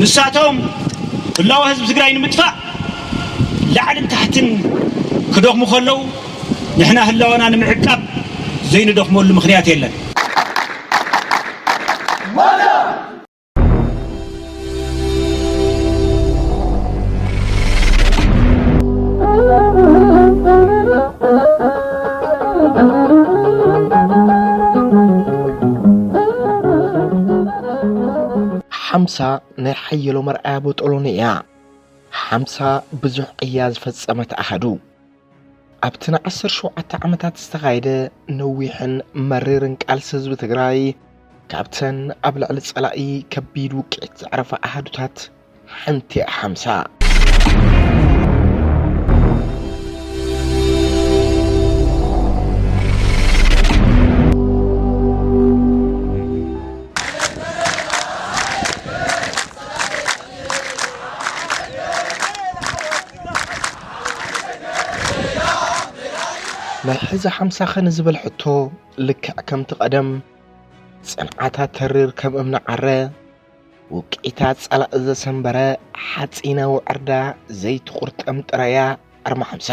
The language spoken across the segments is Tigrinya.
ንሳቶም ህላወ ህዝቢ ትግራይ ንምጥፋእ ላዕልን ታሕትን ክደኽሙ ከለው ንሕና ህላወና ንምዕቃብ ዘይንደኽመሉ ምኽንያት የለን። ሓምሳ ናይ ሓየሎም ኣርኣያ ቦጦሎኒ እያ። ሓምሳ ብዙሕ ቅያ ዝፈጸመት ኣሃዱ። ኣብቲ ንዓሰርተ ሸውዓተ ዓመታት ዝተኻየደ ነዊሕን መሪርን ቃልሲ ህዝቢ ትግራይ ካብተን ኣብ ልዕሊ ጸላኢ ከቢድ ውቅዒት ዘዕረፋ ኣሃዱታት ሓንቲ ሓምሳ። ናይ ሕዚ ሓምሳኸ ንዝብል ሕቶ ልክዕ ከምቲ ቀደም ጽንዓታ ተሪር ከም እምኒ ዓረ ውቅዒታ ጸላኢ ዘሰንበረ ሓጺነ ውዕርዳ ዘይትቑርጠም ጥራያ ኣርማ ሓምሳ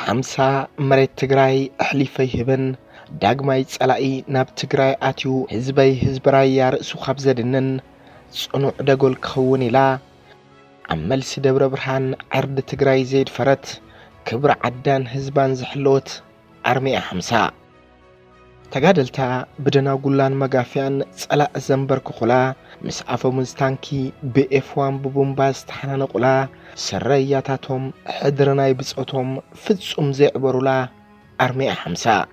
ሓምሳ መሬት ትግራይ ኣሕሊፈ ይህብን ዳግማይ ጸላኢ ናብ ትግራይ ኣትዩ ህዝበይ ህዝቢ ራያ ርእሱ ካብ ዘድንን ጽኑዕ ደጎል ክኸውን ኢላ ኣብ መልሲ ደብረ ብርሃን ዓርዲ ትግራይ ዘይድፈረት ክብሪ ዓዳን ህዝባን ዝሕለወት ኣርሚያ ሓምሳ ተጋደልታ ብደናጉላን መጋፍያን ጸላእ ዘንበርክኹላ ምስ ኣፈሙዝ ታንኪ ብኤፍ ዋን ብቡምባ ዝተሓናነቑላ ስረያታቶም ሕድሪ ናይ ብጾቶም ፍጹም ዘይዕበሩላ ኣርሚያ ሓምሳ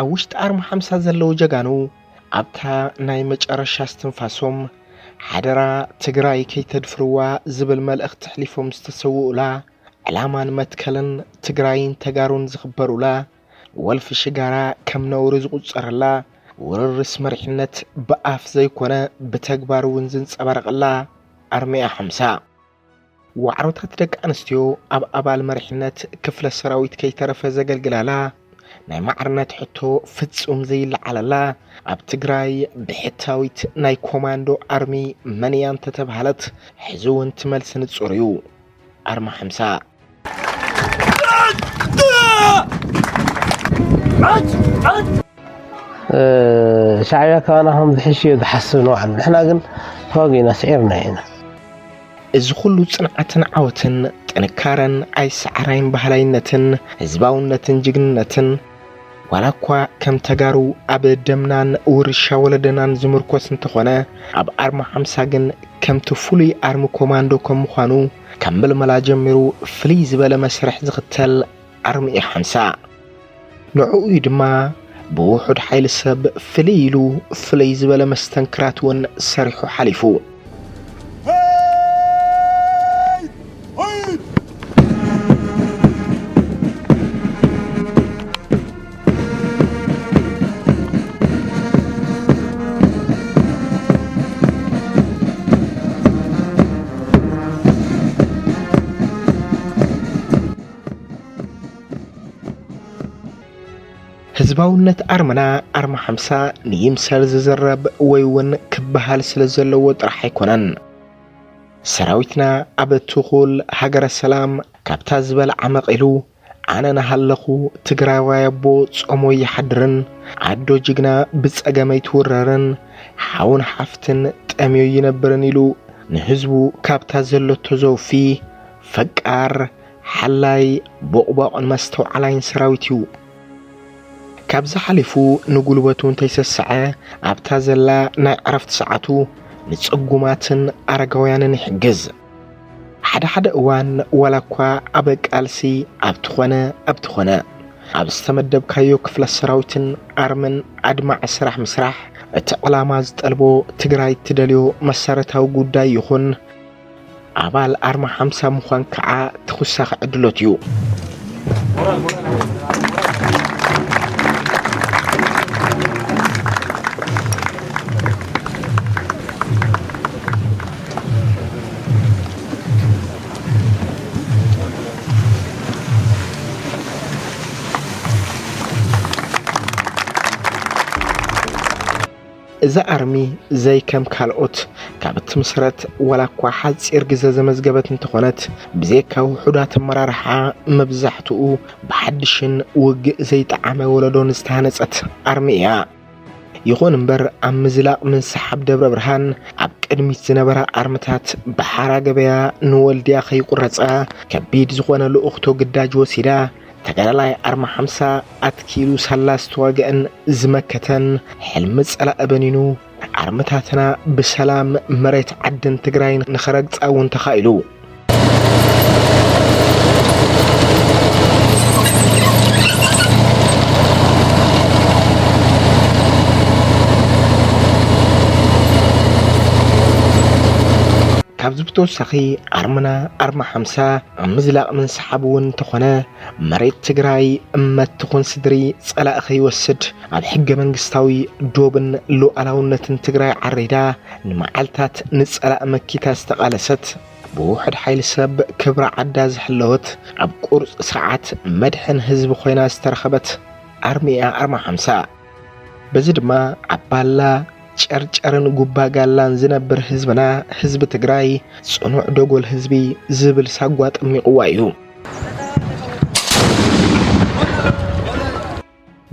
ኣብ ውሽጢ ኣርማ ሓምሳ ዘለዉ ጀጋኑ ኣብታ ናይ መጨረሻ እስትንፋሶም ሓደራ ትግራይ ከይተድፍርዋ ዝብል መልእኽቲ ኣሕሊፎም ዝተሰውኡላ ዕላማን መትከልን ትግራይን ተጋሩን ዝኽበሩላ ወልፊ ሽጋራ ከም ነውሪ ዝቑፀረላ ውርርስ መሪሕነት ብኣፍ ዘይኮነ ብተግባር እውን ዝንፀባረቐላ ኣርሚያ ሓምሳ ዋዕሮታት ደቂ ኣንስትዮ ኣብ ኣባል መሪሕነት ክፍለ ሰራዊት ከይተረፈ ዘገልግላላ ናይ ማዕርነት ሕቶ ፍጹም ዘይለዓለላ ኣብ ትግራይ ብሕታዊት ናይ ኮማንዶ ኣርሚ መን እያ እንተተብሃለት ሕዚ እውን ትመልሲ ንጹር እዩ ኣርማ ሓምሳ ሻዕቢያ ካባና ከም ዝሕሽ እዮ ዝሓስብ ንባዕሉ ንሕና ግን ተዋጊእና ስዒርና ኢና እዚ ኩሉ ጽንዓትን ዓወትን ጥንካረን ኣይሰዓራይን ባህላይነትን ህዝባውነትን ጅግንነትን ዋላ እኳ ከም ተጋሩ ኣብ ደምናን ውርሻ ወለደናን ዝምርኮስ እንተኾነ ኣብ ኣርማ ሓምሳ ግን ከምቲ ፍሉይ ኣርሚ ኮማንዶ ከም ምዃኑ ከም ምልመላ ጀሚሩ ፍልይ ዝበለ መስርሕ ዝኽተል ኣርሚ እዩ ሓንሳእ። ንዕኡ እዩ ድማ ብውሑድ ሓይሊ ሰብ ፍልይ ኢሉ ፍልይ ዝበለ መስተንክራት እውን ሰሪሑ ሓሊፉ። ህዝባውነት ኣርመና ኣርማ ሓምሳ ንይምሰል ዝዝረብ ወይ እውን ክበሃል ስለ ዘለዎ ጥራሕ ኣይኮነን ሰራዊትና ኣብ ትኹል ሃገረ ሰላም ካብታ ዝበል ዓመቕ ኢሉ ኣነ ናሃለኹ ትግራዋይ ኣቦ ጾሙ ኣይሓድርን ኣዶ ጅግና ብጸገም ኣይትውረርን ሓውን ሓፍትን ጠምዩ ኣይነብርን ኢሉ ንህዝቡ ካብታ ዘለቶ ዘውፊ ፈቃር ሓላይ ቦቕቧቕን መስተውዓላይን ሰራዊት እዩ። ካብዚ ሓሊፉ ንጉልበቱ እንተይሰሰዐ ኣብታ ዘላ ናይ ዕረፍቲ ሰዓቱ ንጽጉማትን ኣረጋውያንን ይሕግዝ። ሓደ ሓደ እዋን ዋላ እኳ ኣብ ቃልሲ ኣብቲ ኾነ ኣብቲ ኾነ ኣብ ዝተመደብካዮ ክፍለ ሰራዊትን ኣርምን ኣድማዒ ስራሕ ምስራሕ እቲ ዕላማ ዝጠልቦ ትግራይ እትደልዮ መሰረታዊ ጉዳይ ይኹን ኣባል ኣርማ ሓምሳ ምዃን ከዓ ተኹሳኺ ዕድሎት እዩ። እዚ ኣርሚ ዘይከም ካልኦት ካብ እትምስረት ዋላ እኳ ሓፂር ግዘ ዘመዝገበት እንተኾነት ብዘይካ ውሑዳት ኣመራርሓ መብዛሕትኡ ብሓድሽን ውግእ ዘይጠዓመ ወለዶን ዝተሃነፀት ኣርሚ እያ። ይኹን እምበር ኣብ ምዝላቕ ምንስሓብ ደብረ ብርሃን ኣብ ቅድሚት ዝነበራ ኣርምታት ብሓራ ገበያ ንወልድያ ከይቁረፃ ከቢድ ዝኾነ ልኡኽቶ ግዳጅ ወሲዳ ተጋዳላይ ኣርማ ሓምሳ ኣትኪሉ ሳላ ዝተዋገአን ዝመከተን ሕልሚ ጸላእ በኒኑ ኣርምታትና ብሰላም መሬት ዓድን ትግራይን ንኸረግፃ እውን ተኻኢሉ። ካብዚ ብተወሳኺ ኣርምና ኣርማ ሓምሳ ኣብ ምዝላቕ ምንስሓብ እውን እንተኾነ መሬት ትግራይ እመት ትኹን ስድሪ ጸላእ ከይወስድ ኣብ ሕገ መንግስታዊ ዶብን ሉዓላውነትን ትግራይ ዓሪዳ ንመዓልታት ንጸላእ መኪታ ዝተቓለሰት ብውሑድ ሓይሊ ሰብ ክብራ ዓዳ ዝሕለወት ኣብ ቁርፅ ስርዓት መድሕን ህዝቢ ኮይና ዝተረኸበት ኣርሚ እያ ኣርማ ሓምሳ። በዚ ድማ ኣብ ባላ፣ ጨርጨርን ጉባ ጋላን ዝነብር ህዝብና ህዝቢ ትግራይ ፅኑዕ ደጎል ህዝቢ ዝብል ሳጓ ጠሚቑዋ እዩ።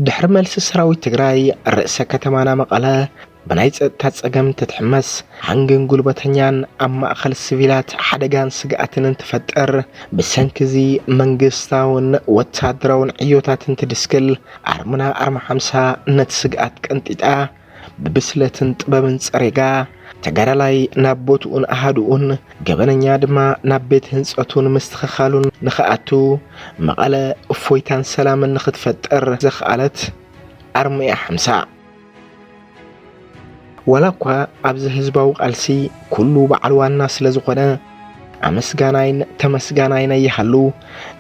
ድሕሪ መልሲ ሰራዊት ትግራይ ርእሰ ከተማና መቐለ ብናይ ጸጥታ ጸገም ትትሕመስ ሃንግን ጉልበተኛን ኣብ ማእኸል ስቪላት ሓደጋን ስግኣትን እንትፈጥር ብሰንኪ እዚ መንግስታውን ወታደራውን ዕዮታት እንትድስክል ኣርምና ኣርማ ሓምሳ ነቲ ስግኣት ቀንጢጣ ብብስለትን ጥበብን ጸሪጋ ተጋዳላይ ናብ ቦትኡን ኣሃድኡን ገበነኛ ድማ ናብ ቤት ህንጸቱን ምስትኽኻሉን ንኽኣቱ መቐለ እፎይታን ሰላምን ንኽትፈጥር ዘኽኣለት ኣርምያ ሓምሳ ዋላ እኳ ኣብዚ ህዝባዊ ቃልሲ ኩሉ በዓል ዋና ስለ ዝኾነ ኣመስጋናይን ተመስጋናይን ኣይሃሉ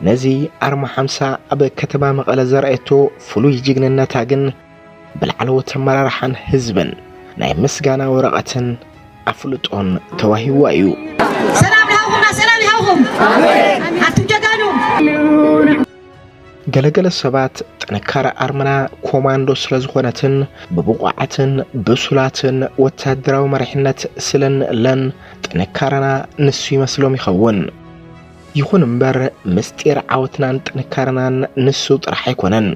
ነዚ ኣርማ ሓምሳ ኣብ ከተማ መቐለ ዘርኣየቶ ፍሉይ ጅግንነታ ግን ብላዕለዎት ኣመራርሓን ህዝብን ናይ ምስጋና ወረቐትን ኣፍልጦን ተዋሂዋ እዩ። ሰላም ይሃብኹምና ሰላም ይሃብኹም ኣቱም ጀጋኑ ገለገለ ሰባት ጥንካረ ኣርምና ኮማንዶ ስለ ዝኾነትን ብብቑዓትን ብሱላትን ወታደራዊ መሪሕነት ስለ እንእለን ጥንካረና ንሱ ይመስሎም ይኸውን። ይኹን እምበር ምስጢር ዓወትናን ጥንካረናን ንሱ ጥራሕ ኣይኮነን።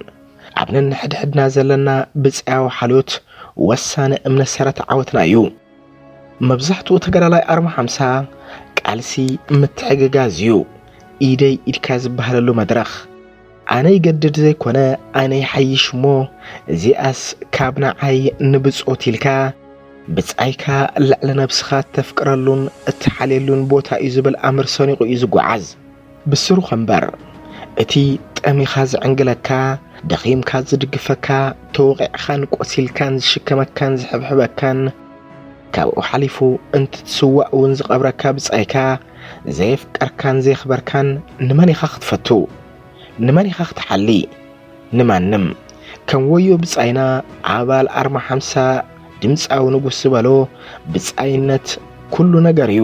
ኣብ ነንሕድሕድና ዘለና ብጽያዊ ሓልዮት ወሳኒ እምነ ሰረት ዓወትና እዩ። መብዛሕትኡ ተጋዳላይ ኣርማ ሓምሳ ቃልሲ ምትሕግጋዝ እዩ ኢደይ ኢድካ ዝበሃለሉ መድረኽ። ኣነ ይገድድ ዘይኮነ ኣነ ይሓይሽ እሞ እዚኣስ ካብ ንዓይ ንብጾት ኢልካ ብጻይካ ልዕሊ ነብስኻ እተፍቅረሉን እትሓልየሉን ቦታ እዩ ዝብል ኣምር ሰኒቑ እዩ ዝጓዓዝ። ብስሩኽ እምበር እቲ ጠሚኻ ዝዕንግለካ፣ ደኺምካ ዝድግፈካ፣ ተወቒዕኻን ቆሲልካን ዝሽከመካን ዝሕብሕበካን፣ ካብኡ ሓሊፉ እንትትስዋእ እውን ዝቐብረካ ብጻይካ ዘየፍቀርካን ዘየኽበርካን ንመን ኢኻ ክትፈቱ? ንመን ኢኻ ክትሓሊ? ንማንም። ከም ወዮ ብጻይና ኣባል ኣርማ ሓምሳ ድምጻዊ ንጉስ ዝበሎ ብጻይነት ኩሉ ነገር እዩ።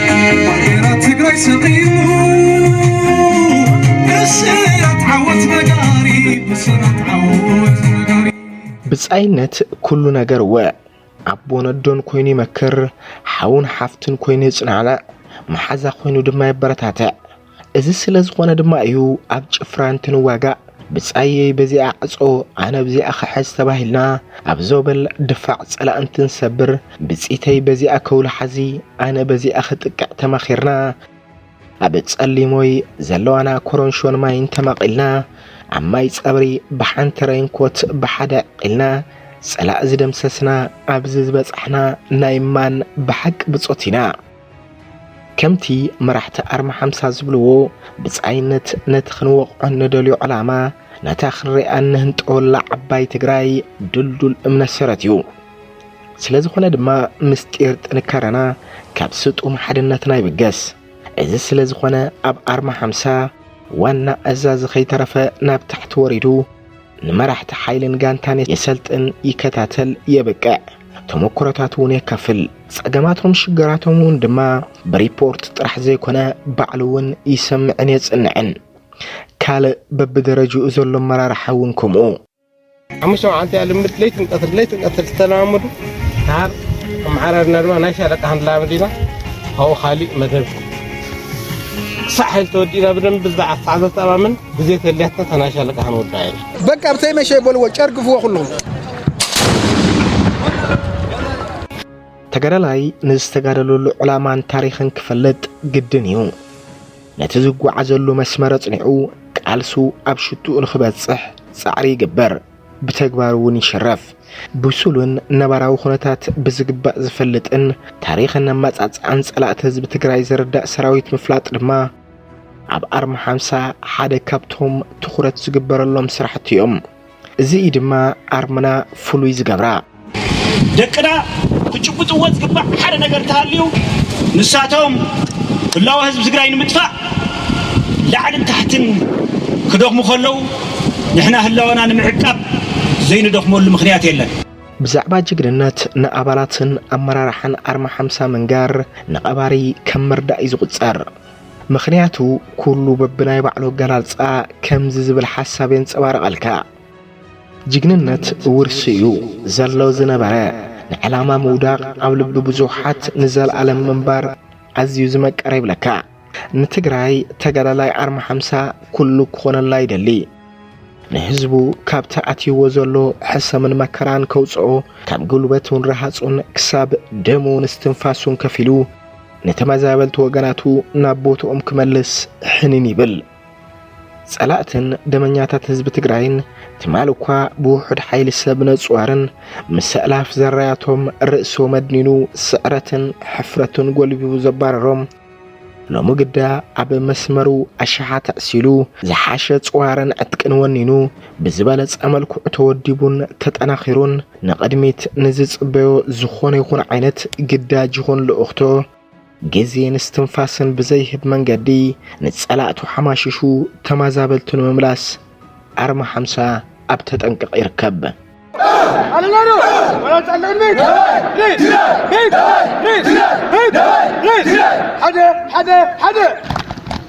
ብጻይነት ኩሉ ነገር እወ ኣቦን ኣዶን ኮይኑ ይመክር፣ ሓውን ሓፍትን ኮይኑ የጽናዕንዕ፣ መሓዛ ኮይኑ ድማ የበረታትዕ፣ እዚ ስለ ዝኾነ ድማ እዩ ኣብ ጭፍራ እንትንዋጋእ ብጻየይ በዚኣ ዕጾ ኣነ ብዚኣ ክሕዝ ተባሂልና ኣብ ዞበል ድፋዕ ጸላእ እንትንሰብር ብጺተይ በዚኣ ከውሊ ሓዚ ኣነ በዚኣ ክጥቅዕ ተማኺርና ኣብ ጸሊሞይ ዘለዋና ኮሮንሾን ማይን ተማቒልና ኣብ ማይ ጸብሪ ብሓንቲ ረይንኮት ብሓደ ዕቂልና ጸላእ ዝደምሰስና ኣብዚ ዝበጻሕና ናይ ማን ብሓቂ ብጾት ኢና። ከምቲ መራሕቲ ኣርማ ሓምሳ ዝብልዎ ብጻይነት ነቲ ክንወቕዖ ንደልዮ ዕላማ ነታ ክንሪኣ እንህንጠወላ ዓባይ ትግራይ ድልዱል እምነት ሰረት እዩ። ስለ ዝኾነ ድማ ምስጢር ጥንካረና ካብ ስጡም ሓድነትና ይብገስ። እዚ ስለ ዝኾነ ኣብ ኣርማ ሓምሳ ዋና ኣዛዚ ከይተረፈ ናብ ታሕቲ ወሪዱ ንመራሕቲ ሓይልን ጋንታን የሰልጥን፣ ይከታተል፣ የብቅዕ፣ ተሞክሮታት እውን የካፍል። ጸገማቶም ሽገራቶም እውን ድማ ብሪፖርት ጥራሕ ዘይኮነ ባዕሉ እውን ይሰምዕን የጽንዕን። ካልእ በብደረጅኡ ዘሎ ኣመራርሓ እውን ከምኡ። ሓሙሽተ መዓልቲ እያ ልምድ ለይትን ቀትር ለይትን ቀትር ዝተለማመዱ ተሃር ኣመዓራርና ድማ ናይ ሻለቃ ክንለማመድ ኢና ካብኡ ካሊእ መደብ ሳሕል ተወዲና ብደንብ ብዛዕ ኣስዓብ ዘተኣማምን ግዜ ተልያታ ተናሻለቃ ክንወዳ ኢና በቃ ኣብተይ መሸ በልዎ ጨርግፍዎ ኩሉም ተጋዳላይ ንዝተጋደለሉ ዕላማን ታሪኽን ክፈልጥ ግድን እዩ ነቲ ዝጓዓዘሉ መስመር ኣጽኒዑ ቃልሱ ኣብ ሽትኡ ንኽበጽሕ ጻዕሪ ይግበር ብተግባር እውን ይሽረፍ። ብሱሉን ነባራዊ ኩነታት ብዝግባእ ዝፈልጥን ታሪኽን ኣመፃፅኣን ፀላእቲ ህዝቢ ትግራይ ዝርዳእ ሰራዊት ምፍላጥ ድማ ኣብ ኣርማ ሓምሳ ሓደ ካብቶም ትኹረት ዝግበረሎም ስራሕቲ እዮም። እዚ እዩ ድማ ኣርምና ፍሉይ ዝገብራ። ደቅና ክጭብጥዎ ዝግባእ ሓደ ነገር እንተሃልዩ ንሳቶም ህላወ ህዝቢ ትግራይ ንምጥፋእ ላዕልን ታሕትን ክደኽሙ ከለው ንሕና ህላወና ንምዕቃብ ዘይንደኽመሉ ምኽንያት የለን። ብዛዕባ ጅግንነት ንኣባላትን ኣመራርሓን ኣርማ ሓምሳ ምንጋር ንቐባሪ ከም ምርዳእ እዩ ዝቑጸር። ምኽንያቱ ኩሉ በብናይ ባዕሉ ኣገላልጻ ከምዚ ዝብል ሓሳብ የንጸባርቐልካ። ጅግንነት ውርሲ'ዩ ዘሎ ዝነበረ ንዕላማ ምውዳቕ ኣብ ልቢ ብዙሓት ንዘለኣለም ምንባር ኣዝዩ ዝመቀረ ይብለካ ንትግራይ ተጋዳላይ ኣርማ ሓምሳ ኩሉ ክኾነላ ይደሊ ንህዝቡ ካብቲ ኣትይዎ ዘሎ ሕሰምን መከራን ከውፅኦ ካብ ጉልበቱን ረሃፁን ክሳብ ደሙን እስትንፋሱን ከፊሉ ንተመዛበልቲ ወገናቱ ናብ ቦትኦም ክመልስ ሕኒን ይብል። ጸላእትን ደመኛታት ህዝቢ ትግራይን ትማል እኳ ብውሑድ ሓይሊ ሰብ ነጽዋርን ምስ ኣእላፍ ዘራያቶም ርእሶ መድኒኑ ስዕረትን ሕፍረትን ጎልቢቡ ዘባረሮም ሎሚ ግዳ ኣብ መስመሩ ኣሽሓት ኣዕሲሉ ዝሓሸ ጽዋርን ዕጥቅን ወኒኑ ብዝበለጸ መልክዑ ተወዲቡን ተጠናኺሩን ንቕድሚት ንዝጽበዮ ዝኾነ ይኹን ዓይነት ግዳጅ ይኹን ልኡኽቶ ግዜን እስትንፋስን ብዘይህብ መንገዲ ንጸላእቱ ሓማሽሹ ተማዛበልቱ ንምምላስ ኣርማ ሓምሳ ኣብ ተጠንቀቕ ይርከብ።